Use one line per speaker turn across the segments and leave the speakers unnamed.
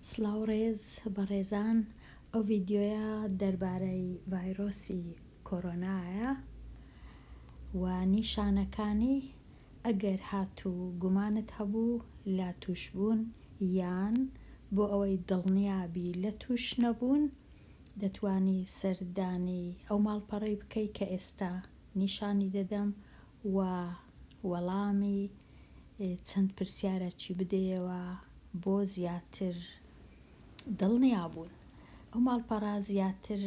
سڵاو ڕێز بەڕێزان ئەو ڤیددیویە دەربارەی ڤایرۆسی کۆرۆنایە و نیشانەکانی ئەگەر هاتوو گومانت هەبوو لە توشبوون یان بۆ ئەوەی دڵنیابی لە توش نەبوون دەتوانی سەردانی ئەو ماڵپەڕەی بکەی کە ئێستا نیشانی دەدەم و وەڵامی چەند پرسیارەکی بدەیەوە بۆ زیاتر دڵنیابوون. ئەو ماڵپەڕە زیاتر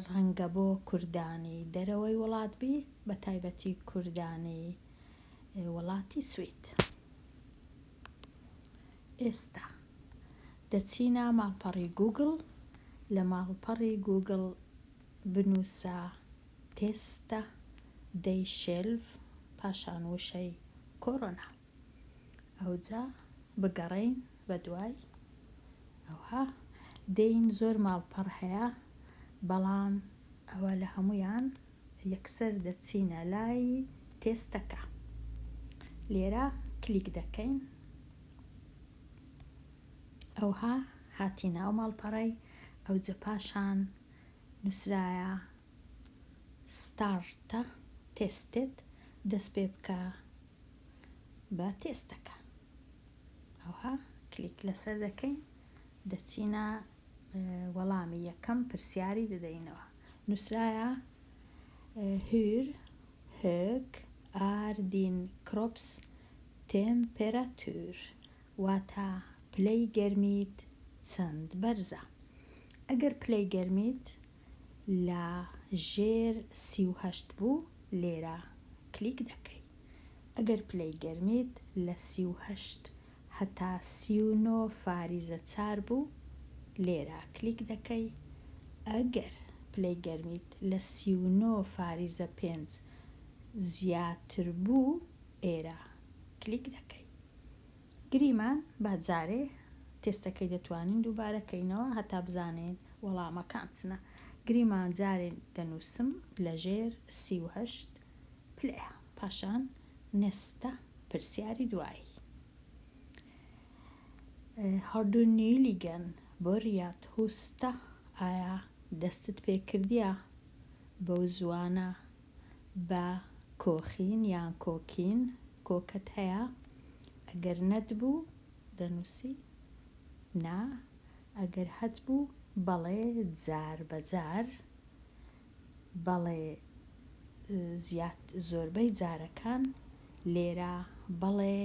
ڕەنگە بۆ کوردانی دەرەوەی وڵات بی بە تایبەتی کوردانی وڵاتی سوید. ئێستا. دەچینە ماڵپەڕی گووگڵ لە ماڵپەڕی گووگڵ بنووسە تێستە دەی شێلڤ پاشان وشەی کۆرۆنا ئەوجا بگەڕێین بە دوای ئەوها دێین زۆر ماڵپەڕ هەیە بەڵام ئەوە لە هەمویان یەکسەر دەچینە لای تێستەکە لێرە کلیک دەکەین ئەوها هاتینە ئەو ماڵپەڕەی ئەوجە پاشان نوسرایە Start Tested دەست پێ بکە بە تێستەکە ئەوها کلیک لەسەر دەکەین دەچینە وەڵامی یەکەم پرسیاری دەدەینەوە. نووسرایە Hur hög är din kroppstemperatur؟ واتە پلەی گەرمیت چەند بەرزە؟ ئەگەر پلەی گەرمیت لە ژێر سی و هەشت بوو لێرە کلیک دەکەی. ئەگەر پلەی گەرمیت لە سی و هەشت هەتا سی و نۆ فاریزە چار بوو لێرە کلیک دەکەی ئەگەر پلەی گەرمیت لە سی و نۆ فاریزە پێنج زیاتر بوو ئێرە کلیک دەکەی گریمان با جارێ تێستەکەی دەتوانین دووبارە کەینەوە هەتا بزانین وەڵامەکان چنە گریمان جارێ دەنووسم لەژێر سی و هەشت پلەیە پاشان نەستە پرسیاری دوایی هاردونیلیگەن بۆریات هوستە ئایا دەستت پێکردیە بەو زوانە بە کۆخین یان کۆکین کۆکەت هەیە ئەگەر نەتبوو دەنووسی نا ئەگەر هەتبوو بەڵێ جار بەجار بەڵێ زیات زۆربەی جارەکان لێرە بەڵێ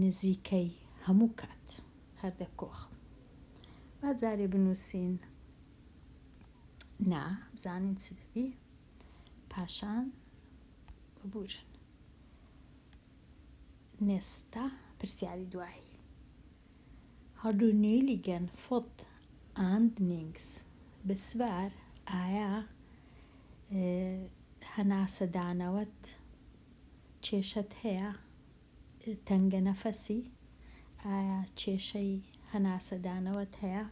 نزیکەی هەموو کات هەر دەکۆخم با جارێ بنووسین نا بزانین چ دەبی پاشان ببورن نێستا پرسیاری دوایی هەردوو نیلیگەن فوت ئاند نینگس بسوار ئایا هەناسەدانەوەت کێشەت هەیە تەنگە نەفەسی ئایا کێشەی هەناسەدانەوەت هەیە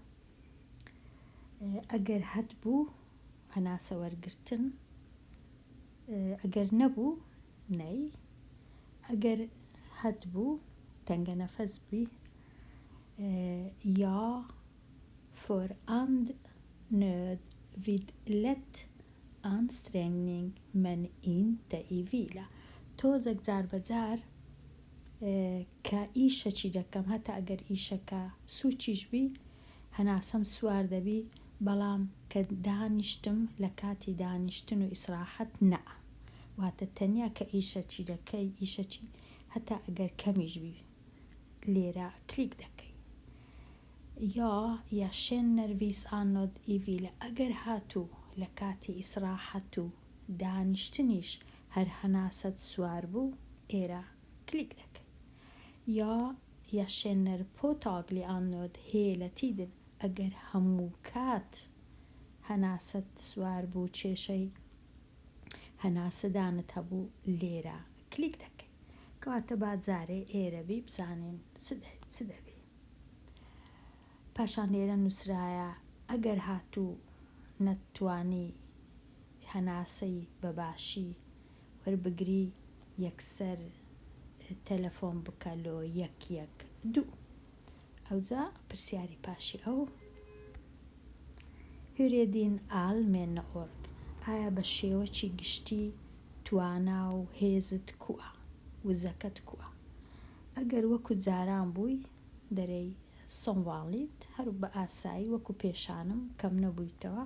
ئەگەر هەتبوو هەناسە وەرگرتن ئەگەر نەبوو نەی ئەگەر هەتبوو تەنگە نەفەس بووی یا فۆر ئەند نۆد ڤید لەت ئانسترێنینگ من ئین دە ئیڤیلە تۆزەک جار بە جار کە ئیشەکی دەکەم هەتا ئەگەر ئیشەکە سوچیش بی هەناسەم سوار دەبی بەڵام کە دانیشتم لە کاتی دانیشتن و ئیسراحەت نا واتە تەنیا کە ئیشەکی دەکەی ئیشەکی هەتا ئەگەر کەمیش بی لێرە کلیک دەکەی یا یا شێن نەرڤیس ئانۆد ئیڤیلە ئەگەر هاتوو لە کاتی ئیسراحەت و دانیشتنیش هەر هەناسەت سوار بوو ئێرە کلیک دەکەی یا Jag känner påtaglig andnöd hela tiden ئەگەر هەمووکات هەناسەت سوار بوو کێشەی هەناسەدانت هەبوو لێرە کلیک دەکەی کەواتە با جارێ ئێرە بی بزانین چ دەبی پاشان لێرە نووسرایە ئەگەر هاتوو نەتتوانی هەناسەی بەباشی وەربگری یەکسەر تەلەفۆن بکە لۆ یەک یەک دوو. ئەوجا پرسیاری پاشی ئەو هورێدین ئال مێنە ئۆرگ ئایا بە شێوەکی گشتی توانا و هێزت کووە؟ وزەکەت کووە؟ ئەگەر وەکو جاران بووی دەرێی سۆنواڵیت هەرو بە ئاسایی وەکو پێشانم کەم نەبوویتەوە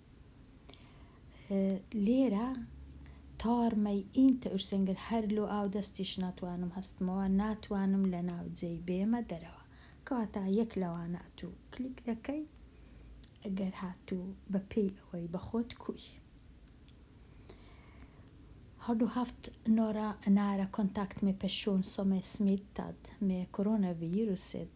لێرە تارمەی ئینتە ئورسەنگر هەر لۆ ئاو دەستیش ناتوانم هەستمەوە ناتوانم لە ناو جێی بێمە دەرەوە کەواتە یەک لەوانە ئەتو کلیک دەکەی ئەگەر هاتوو بە پێی ئەوەی بە خۆت کوی هەردوو هەفت نۆرە نارە کۆنتاکت مێ پەشۆن سۆمێ سمیت تاد مێ کۆرۆنە ڤیروسێت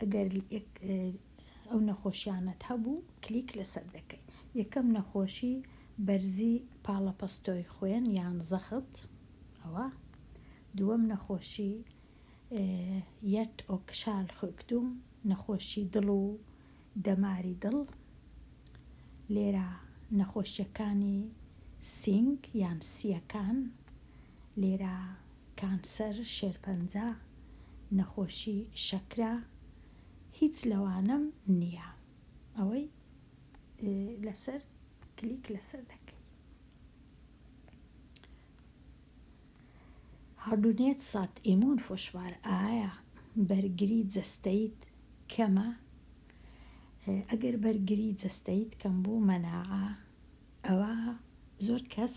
ئەگەر ئەو نەخۆشیانەت هەبوو کلیک لەسەر دەکەی یەکەم نەخۆشی بەرزی پاڵەپەستۆی خوێن یان زەخت ئەوە دووەم نەخۆشی یەت ئۆکشال خوکتوم نەخۆشی دڵ و دەماری دڵ لێرە نەخۆشیەکانی سینگ یان سیەکان لێرە کانسەر شێرپەنجە، نەخۆشی شەکرە هیچ لەوانەم نیە ئەوەی لەسەر کلیک لەسەر دەکەی. هاردونێت سات ئیمون فشوار ئایا بەرگری جەستەیت کەمە؟ ئەگەر بەرگری جەستەیت کەم بوو مەناعە ئەوا زۆر کەس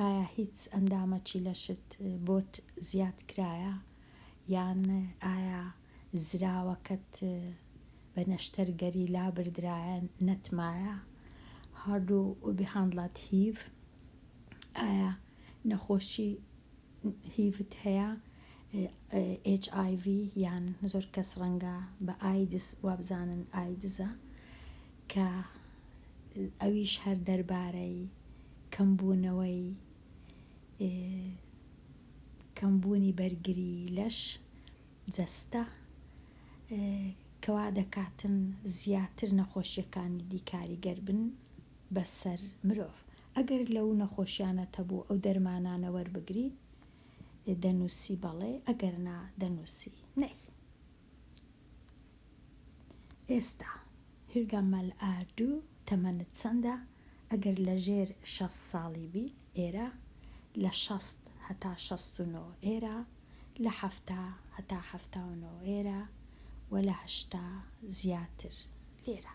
ئایا هیچ ئەندامەکی لەشت بۆت زیاد کرایە یان ئایا زراوەکەت بە نەشتەر گەریلا بردرایە نەتمایە Har du behandlat hiv ئایا نەخۆشی هیڤت هەیە HIV یان زۆر کەس ڕەنگە بە ئایدز وابزانن ئایدزە کە ئەویش هەر دەربارەی کەمبوونەوەی کەمبوونی بەرگری لەش، جەستە، کە وادەکاتن زیاتر نەخۆشیەکانی دی کاریگەر بن بەسەر مرۆڤ ئەگەر لەو نەخۆشیانەت هەبوو ئەو دەرمانانە وەربگری دەنووسی بەڵێ ئەگەر نا دەنووسی نەی. ئێستا، هیرگا مەل ئاردوو، تەمەنت چەندە؟ ئەگەر لە ژێر شەست ساڵی بی، ئێرە، لە شەست هەتا شەست و نۆ، ئێرە، لە حەفتا هەتا حەفتا و نۆ، ئێرە، و لە هەشتا زیاتر، لێرە.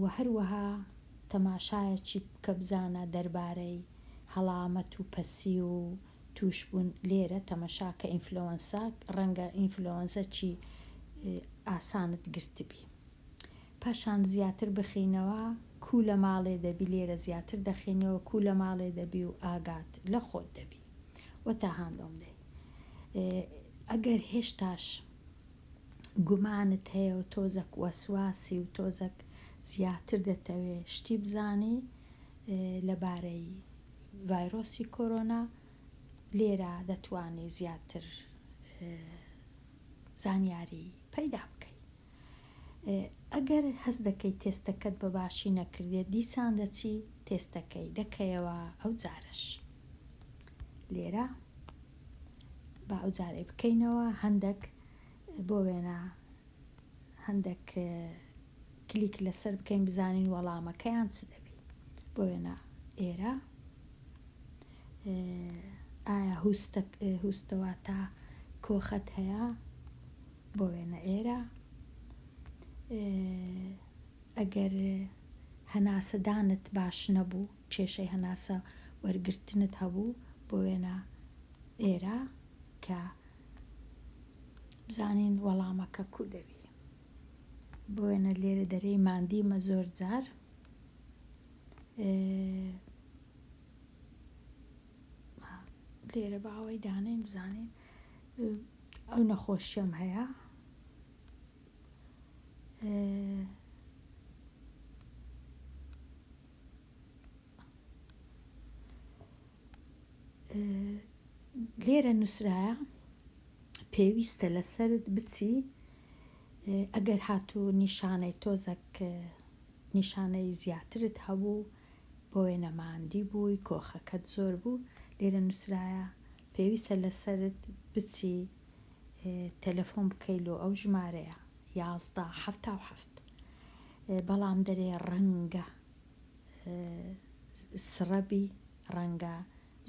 وە هەروەها تەماشایەکی بکە بزانە دەربارەی هەڵامەت و پەسی و توشبون لێرە تەمەشاکە ئینفلۆنسا ڕەنگە ئینفلۆنزە چی ئاسانت گرتبی پاشان زیاتر بخینەوە کو لە ماڵێ دەبی لێرە زیاتر دەخینەوە کو لە ماڵێ دەبی و ئاگات لە خۆت دەبی وە تا هاندۆم دەی ئەگەر هێشتاش گومانت هەیە و تۆزەک وەسواسی و تۆزەک زیاتر دەتەوێ شتی بزانی لەبارەی ڤایرۆسی کۆرۆنا لێرە دەتوانی زیاتر زانیاری پەیدا بکەی ئەگەر هەست دەکەی تێستەکەت بە باشی نەکردێت دیسان دەچی تێستەکەی دەکەیەوە ئەو جارش لێرە با ئەوجارەی بکەینەوە هەندەک بۆ وێنە هەندەک کلیک لەسەر بکەین بزانین وەڵامەکەیان چ دەبی بۆ وێنە ئێرە ئایا هوستەوە تا کۆخەت هەیە بۆ وێنە ئێرە ئەگەر هەناسەدانت باش نەبوو کێشەی هەناسە وەرگرتنت هەبوو بۆ وێنە ئێرە کە بزانین وەڵامەکە کوو دەبی بۆ وێنە لێرە دەرێی ماندیمە زۆر جار لێرە باوەی دانین بزانین ئەو نەخۆشیەم هەیە لێرە نووسراە پێویستە لەسرت بچی ئەگەر هاتوو نیشانەی تۆزەک نیشانەی زیاترت هەبوو بۆێ نەماندی بووی کۆخەکەت زۆر بوو لێرە نووسراە پێویستە لەسرت بچی تەلەفۆن بکەیل و ئەو ژمارەیە یازدە حەفتا و حەفت بەڵام دەرێ ڕەنگە سڕەبی ڕەنگە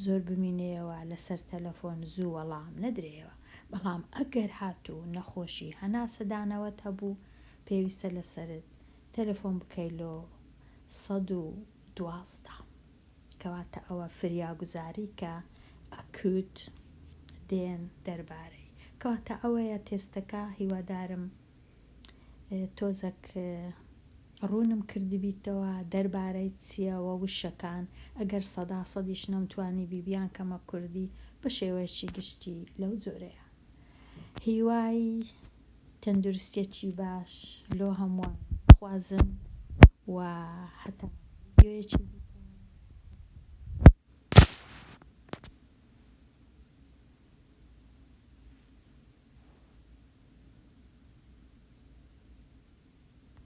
زۆر بمینێەوە لەسەر تەلەفۆن زوو وەڵام نەدرێەوە بەڵام ئەگەر هاتوو نەخۆشی هەناسەدانەوەت هەبوو پێویستە لەسەرت تەلەفۆن بکەیلۆ سەد و دوازدە. کەواتە ئەوە فریاگوزاری کە ئەکوت دێن دەربارەی کەواتە ئەوەیە تێستەکە هیوادارم تۆزەک ڕوونم کردبیتەوە دەربارەی چییە وە وشەکان ئەگەر سەدا سەدیش نەمتوانی بی بیان کەمە کوردی بە شێوەیەکی گشتی لەو جۆرەیە هیوای تەندروستیەکی باش لۆ هەمووان بخوازم و هەتا ڤیدیۆیەکی دیکە.